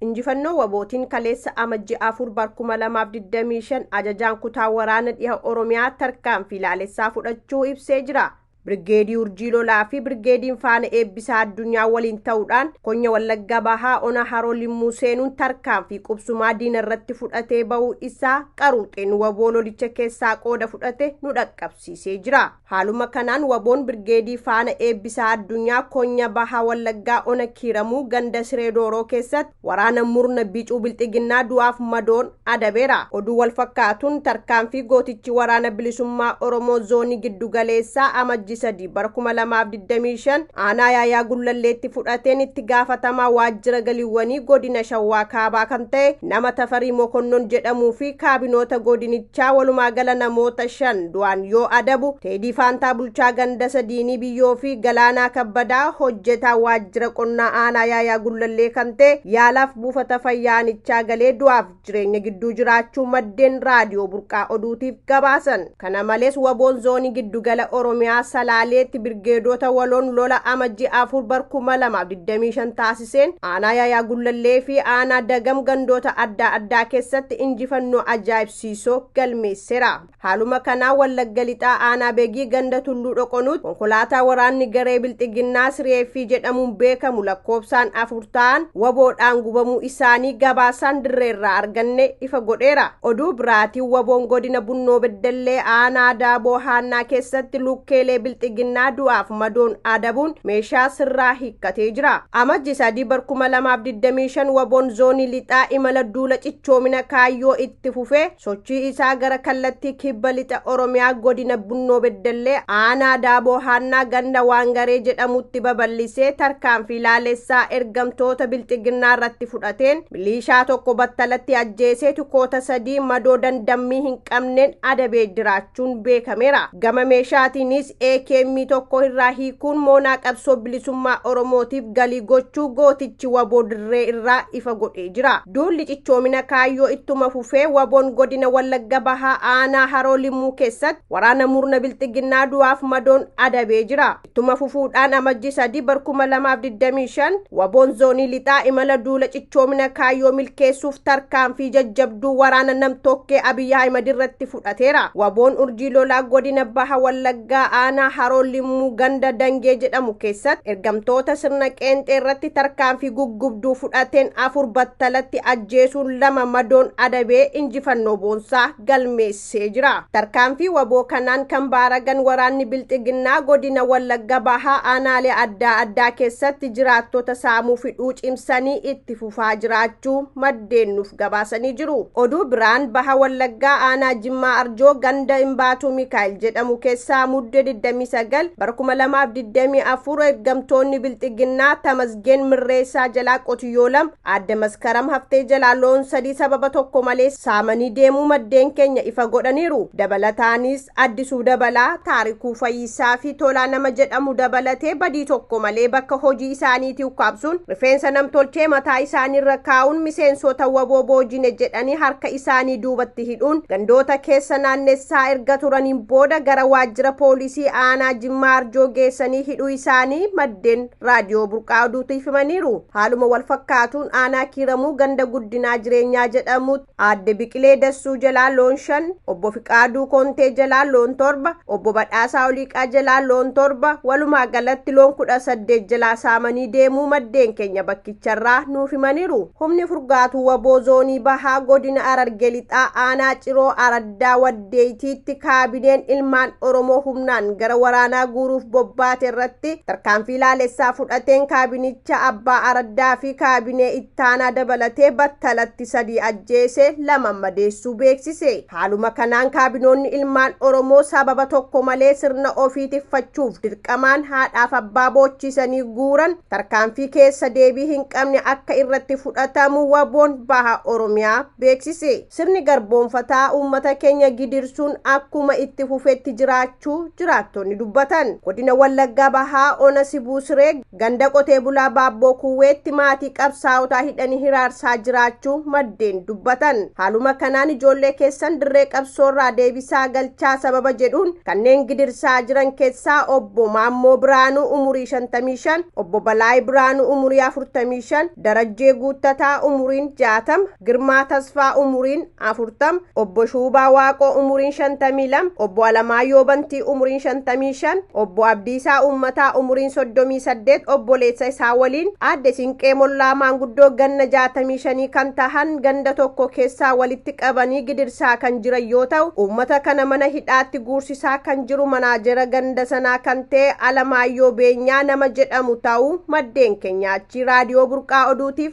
Injifannoo wabootiin kaleessa Amajji 4 bar 2025 ajajaan kutaa waraana dhiha Oromiyaa tarkaanfii laalessaa fudhachuu ibsee jira. Birgeedii Urjii Lolaa fi Birgeediin Faana Eebbisaa Addunyaa waliin ta'uudhaan Konya Wallagga Bahaa Ona Haroo Limmuu seenuun tarkaanfii qubsumaa diina irratti fudhatee ba'uu isaa qaruuxeen waboo lolicha keessaa qooda fudhate nu dhaqqabsiisee jira. Haaluma kanaan wbo'n Birgeedii Faana Eebbisaa Addunyaa Konya Baha Wallaggaa Ona Kiiramuu ganda Siree Dooroo keessatti waraana murna bicuu bilxiginnaa du'aaf madoon adabeera. Oduu walfakkaatuun tarkaanfii gootichi Waraana Bilisummaa Oromoo Zoonii Giddugaleessaa Amajji 3 bara 2025 aanaa Yaayaa Gullalleetti fudhateen itti gaafatamaa waajjira galiwwanii godina Shawaa Kaabaa kan ta'e nama Tafarii Mokonnon jedhamuu fi kaabinoota godinichaa chaa walumaa gala namoota shan du'aan yoo adabu, Teedii Faantaa bulchaa ganda Sadiinii Biyyoo fi Galaanaa Kabbadaa hojjetaa waajjira qonnaa aanaa Yaayaa Gullallee kan ta'e yaalaaf buufata fayyaa aanichaa galee du'aaf jireenya gidduu jiraachuu maddeen Raadiyoo Burqaa Oduutiif gabaasan. Kana malees waboon zoonii giddugala Oromiyaa Salaaleetti birgeedoota waloon lola Amajjii 4 bar 2025 taasiseen ilaalchiseen aanaa Yaayaa Gullallee fi aanaa Dagam gandoota addaa addaa keessatti injifannoo ajaa'ibsiisoo galmeessera. Haaluma kanaa Wallagga Lixaa aanaa Begii ganda Tulluu Dhoqonuutti konkolaataa waraanni garee Bilxiginnaa Siriyeeffii jedhamuun beekamu lakkoobsaan afur ta'an waboodhaan gubamuu isaanii gabaasaan dirreerraa arganne ifa godheera. Oduu biraatiin waboon godina Bunnoo Beddellee aanaa Daaboo Haannaa keessatti lukkeelee Bilxiginnaa du'aaf madoon adabuun meeshaa sirraa gatee jira. Amajji 3 bar 2025 waboon zoonii lixaa imala duula cichoomina kaayyoo itti fufee sochii isaa gara kallattii kibba lixa Oromiyaa godina Bunnoo Beddellee aanaa Daaboo Haannaa ganda Waangaree jedhamutti babal'isee tarkaanfii laalessaa ergamtoota bilxiginnaa irratti fudhateen miliishaa tokko battalatti ajjeesee tukoota sadii madoo dandammii hin qabneen adabee jiraachuun beekameera. Gama meeshaatiinis AKM tokko irraa hiikuun moonaa qabsoo bilisummaa Oromootiif galii gochuu gootichi waboo dirree irraa ifa godhee jira. Duulli cichoomina kaayyoo ittuma fufee waboon godina Wallagga Bahaa aanaa Haroo Limmuu keessatti waraana murna bilxiginnaa du'aaf madoon adabee jira. Ittuma fufuudhaan amajji 3 bar 2025 waboon zoonii lixaa imala duula cichoomina kaayyoo milkeessuuf tarkaanfii jajjabduu waraana nam-tokkee Abiy Ahimad irratti fudhateera. Waboon urjii lolaa godina Baha Wallaggaa aanaa Haroo Limmuu ganda Dangee jedhamu keessatti ergamtoota sirna qeenxee irratti tarkaanfii guggubduu fudhateen afur battalatti ajjeesuun lama madoon adabee injifannoo boonsaa galmeessee jira. Tarkaanfii waboo kanaan kan baaragan waraanni bilxiginnaa godina Wallagga Bahaa aanaalee addaa addaa keessatti jiraattota saamuu fidhuu cimsanii itti fufaa jiraachuu maddeen nuuf gabaasanii jiru. Oduu biraan baha Wallaggaa aanaa Jimmaa Arjoo ganda Imbaatuu Mikaa'el jedhamu keessaa muddee 29 bara 2024 ergamtoonni bilxiginnaa Tamasgeen Mirreessaa jalaa qotiyyoo lama aadde Maskaram haftee jalaa loon sadii sababa tokko malee saamanii deemuu maddeen keenya ifa godhaniiru. Dabalataanis Addisuu Dabalaa, Taarikuu Fayyisaa fi Tolaa nama jedhamu dabalatee badii tokko malee bakka hojii isaaniitii ukkaamsuun rifeensa nam-tolchee mataa isaaniirra kaa'uun miseensoota wbo boojine jedhanii harka isaanii duubatti hidhuun gandoota keessa naannessaa erga turaniin booda gara waajjira poolisii aanaa Jimmaa Arjoo geessanii hidhuu isaanii maddeen Raadiyoo Burqaa Oduutiif himaniiru. Haaluma walfakkaatuun aanaa Kiiramuu ganda Guddinaa Jireenyaa jedhamu Aadde Biqilee Dassuu jalaa loon shan, Obbo Fiqaaduu Kontee jalaa loon torba, Obbo Badhaasaa Oliiqaa jalaa loon torba, walumaa galatti loon 18 jalaa saamanii deemuu maddeen keenya bakkicharraa nuuf himaniiru. Humni furgaatuu wbo Zoonii Bahaa Godina Hararge Lixaa Aanaa Ciroo Araddaa Waddeeytiitti kaabineen ilmaan Oromoo humnaan gara waraanaa guuruuf bobbaate irratti tarkaanfii laalessaa fudhateen kaabinicha abbaa araddaa fi kaabinee Taanaa dabalatee battalatti sadii ajjeesee lama madeessuu beeksise. Haaluma kanaan kaabinoonni ilmaan Oromoo sababa tokko malee sirna ofii tikfachuuf dirqamaan haadhaaf abbaa boochiisanii guuran tarkaanfii keessa deebii hin qabne akka irratti fudhatamu waboon baha Oromiyaa beeksise. Sirni garboonfataa uummata keenya gidirsuun akkuma itti fufetti jiraachuu jiraattonni dubbatan. Godina Wallaggaa Bahaa Ona Sibuu Siree Ganda Qotee Bulaa Baabboo Kuuweetti maatii qabsaa'otaa hidhanii hiraarsaa jiraachuu maddeen dubbatan. Haaluma kanaan ijoollee keessan dirree qabsoorraa deebisaa galchaa sababa jedhuun kanneen gidirsaa jiran keessaa Obbo Maammoo Biraanuu umurii 55, Obbo Balaay Biraanuu umurii 45, Darajjee Guuttataa umuriin 60, Girmaa Tasfaa umuriin 40, obbo Shuubaa Waaqoo umuriin 52, obbo Alamaayyoo Bantii umuriin 55, obbo Abdiisaa Uummataa umuriin 38 obboleessa isaa waliin aadde Sinqee Mollaa maanguddoo ganna 65 kan tahan ganda tokko keessaa walitti qabanii gidirsaa kan jiran yoo ta'u, uummata kana mana hidhaatti guursisaa kan jiru manaajera ganda sanaa kan ta'e Alamaayyoo Beenyaa nama jedhamu ta'uu maddeen keenya achii Raadiyoo Burqaa Oduutiif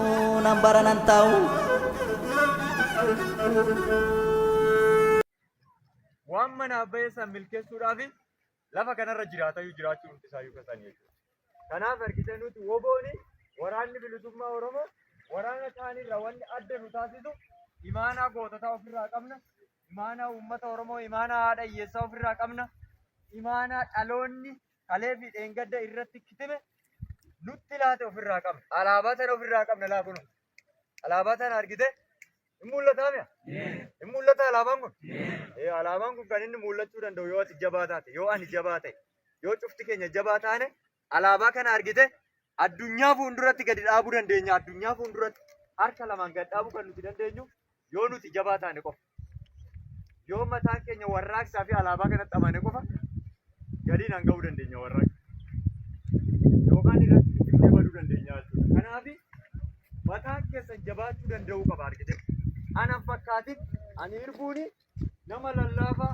nan bara nan taa'u. Waan manaaf bayeessan milkeessuudhaaf lafa kanarra jiraatayyuu jiraachuu hundi isaayyuu kan isaanii jechuudha. Kanaaf harkisa nuti wobooni waraanni bilisummaa Oromoo waraana isaaniirra wanni adda nu taasisu imaanaa goototaa ofirraa qabna. Imaanaa uummata Oromoo imaanaa haadha hiyyeessaa ofirraa qabna. Imaanaa dhaloonni kalee fi dheengadda irratti kitime nutti laate ofirraa qabna. Alaabaa tana ofirraa qabna laa kunu. Alaabaa tana argite hin mul'ataa mi'a? Hin mul'ata alaabaan kun? Ee alaabaan kun kan inni mul'achuu danda'u yoo ati jabaa taate, yoo ani jabaa ta'e, yoo cufti keenya jabaa taane alaabaa kana argite addunyaa fuulduratti gadi dhaabuu dandeenya. Addunyaa fuulduratti harka lamaan gad dhaabuu kan nuti dandeenyu Yoo nuti jabaa taane qofa. Yoo mataan keenya warraaqsaa fi alaabaa kanatti amane qofa galiin hanga'uu dandeenya warraaqsa. Yookaan irratti dhimma baduu dandeenya jechuudha. Kanaaf mataan keessan jabaachuu danda'uu qaba argite. Anan fakkaatin ani irbuuni nama lallaafaa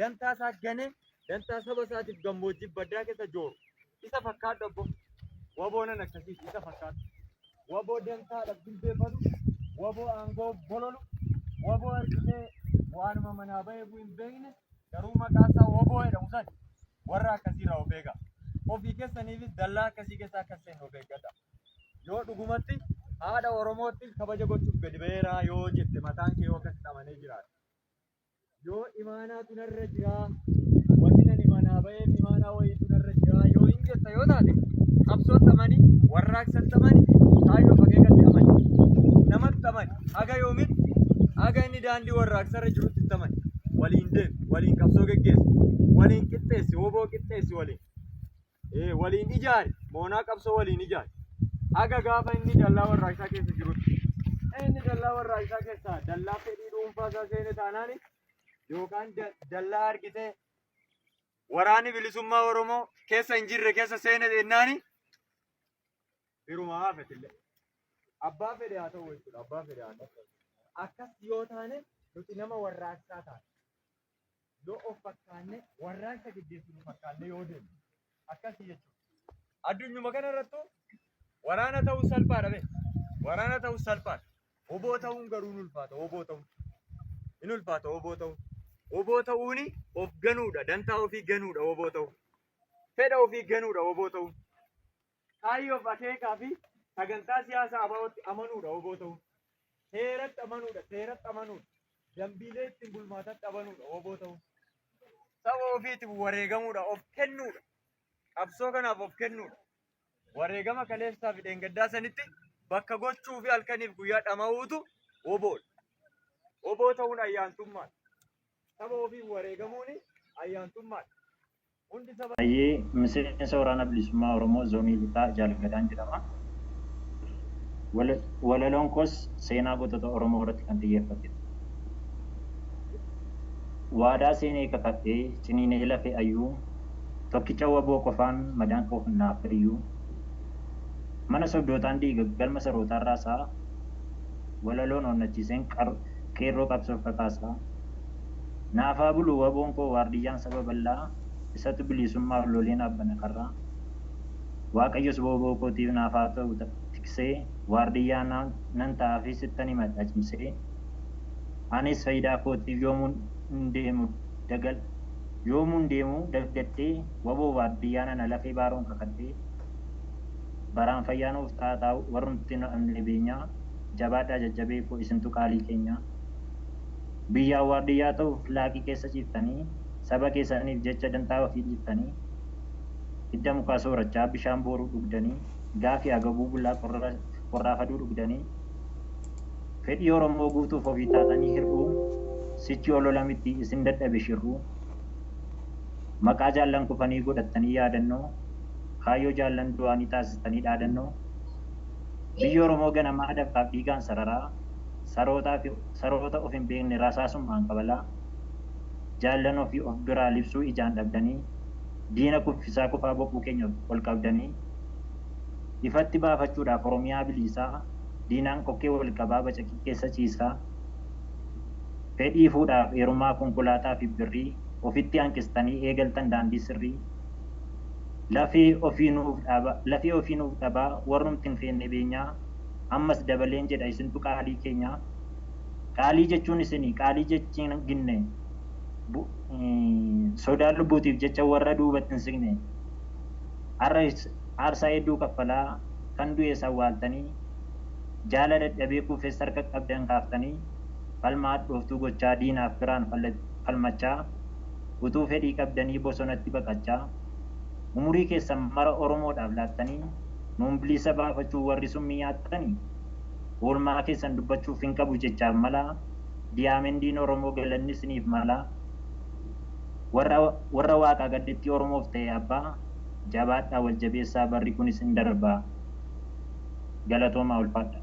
dantaa isaa ganee dantaa saba isaatiif gammoojjii baddaa keessa jooru isa fakkaadhu abbo waboonan akkasiiti isa fakkaadhu waboo dantaadhaaf jilbeeffatu waboo aangoo bololu waboo argitee waanuma manaa bahee buu hin beekne garuu maqaa isaa waboo jedhamu san warra akkasii irraa of eegaa ofii keessaniifis dallaa akkasii keessaa akka seenu of eeggadha yoo dhugumatti haadha oromootti kabaja gochuuf gadi ba'eeraa yoo jette mataan kee yoo akkasitti amanee jiraate Yoo imaanaatu narra jiraa, wanni ani manaa ba'eef imaanaa wayiitu narra jiraa yoo hin jetta yoo taate, qabsootti amani, warraaqsatti amani, kaayyoo fi akeekatti amani, namatti amani, haga yoomitti? Haga inni daandii warraaqsarra jirutti itti amani. Waliin deemi, waliin qabsoo geggeessi, waliin qixxeessi, wbo qixxeessi waliin. eh, waliin ijaare moonaa qabsoo waliin ijaare haga gaafa inni dallaa warraaqsaa keessa jirutti Eh, inni dallaa warraaqsaa keessaa dallaa fedhii dhuunfaa isaa seene taanaani yookaan da- dallaa argitee waraanni bilisummaa Oromoo keessa hin jirre keessa seene jennaani birumaa haafetillee abbaa fedhe haa ta'u jechuudha abbaa fedhe haa ta'u akkas yoo taane nuti nama warraaqsaa taane yoo of fakkaanne warraaqsa geggeessinu fakkaanne yoo deemne akkasii jechuudha. Addunyuma kana irrattu waraana ta'uu salphaadha bee. Waraana ta'uu salphaadha. Oboo ta'uun garuu hin ulfaata. Oboo ta'uun hin ulfaata. Oboo ta'uun. Oboo ta'uuni of ganuudha. Dantaa ofii ganuudha. Oboo ta'uun. Fedha ofii ganuudha. Oboo ta'uun. Kaayyoof akeekaa fi sagantaa siyaasa ABOtti amanuudha wbo ta'uun. Heeratti amanuudha, seeratti amanuudha, dambiilee ittiin bulmaatatti amanuudha wbo ta'uun. Saba ofiitiif wareegamuudha, of kennuudha, qabsoo kanaaf of kennuudha. Wareegama kaleessaa fi dheengaddaa sanitti bakka gochuu fi halkaniif guyyaa dhama'uutu WBOdha. Wbo ta'uun ayyaantummaadha. Saba ofiif wareegamuun ayyaantummaadha. Hayyee, Miseensa Waraana Bilisummaa Oromoo Zoonii Lixaa Jaal Gadaan jedhama. Walaloon koos seenaa gootota Oromoo irratti kan xiyyeeffatedha. Waadaa seenee kakadhee, ciniinee lafee ayyuu, tokkicha wbo qofaan madaan koo kan naa fayyu, mana sobdootaan diiga galma sarootaan raasa, walaloon onnachiiseen qeerroo qabsoof kakaasa. Naaf haa bulu waboon koo waardiyyaan saba bal'aa isatu biliisummaaf lolee naaf bana karraa Waaqayyos wbo kootiif naaf haa ta'u tiksee waardiyyaa nan ta'aafii sittan himadha cimsee Anis fayidaa kootiif yoomuun deemu dagal yoomuun deemu daggadhee wbo waardiyyaa nana lafee baaroon kakadhee Baraan fayyaa nuuf ta'aa taa'u warrumti nu dhabne beenyaa Jabaadhaa jajjabee koo isintu qaalii keenyaa. Biyyaaf waardiyyaa ta'uuf laaqii keessa ciiftanii, saba keessaniif jecha dantaa ofii dhiiftanii, hidda mukaa soorachaa, bishaan booruu dhugdanii, gaafi agabuu bulaa qorraa faduu dhugdanii, fedhii Oromoo guutuuf ofii taatanii hir'uu, sichi olola miti isin dadhabe shirruu. Maqaa jaallan kufanii godhattanii yaadannoo, kaayyoo jaallan du'aanii taasistanii dhaadannoo. Biyyi Oromoo ganamaa dafqaaf dhiigaan sararaa, sarootaafi. saroota of hin beekne rasaasummaan kabalaa, jaallan ofii of biraa libsuu ijaan dhabdanii, diina kuffisaa kufaa boquu keenya ol qabdanii, ifatti baafachuudhaaf Oromiyaa biliisaa, diinaan kokkee wal qabaa bacaqii keessa ciisaa, fedhii fuudhaaf eerumaa konkolaataa fi birrii ofitti hanqistanii eegaltan daandii sirrii, lafee ofii nuuf dhaabaa, lafee ofii nuuf dhabaa warrumti hin feenne beenyaa, ammas dabaleen jedha isintu qaalii keenya qaalii jechuun isini qaalii jechiin ginne bu sodaa lubbuutiif jecha warra duubatti hin signe har'a aarsaa hedduu kaffalaa kan du'ees awwaaltanii jaala dadhabee kuufes harka qabdan kaaftanii falmaa hadhooftuu gochaa diinaaf firaan falmachaa utuu fedhii qabdanii bosonatti baqachaa umurii keessan mara oromoodhaaf laattanii Nuun bilisa baafachuu warri summii nyaattani oolmaa keessan dubbachuuf hin qabu jechaaf malaa diyaamendiin oromoo galanni siniif malaa warra warra waaqaa gaddetti oromoof ta'e abbaa jabaadhaa wal jabeessaa barri kunis in darbaa galatoomaa ulfaadhaa.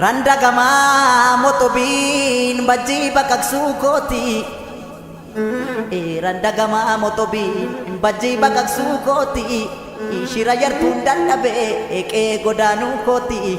Randa gamaa motobiin bajjii baqaqsuu kooti. Randa gamaa motobiin bajjii baqaqsuu kooti. Shira yartuun dadhabee eeqee godaanuu kooti.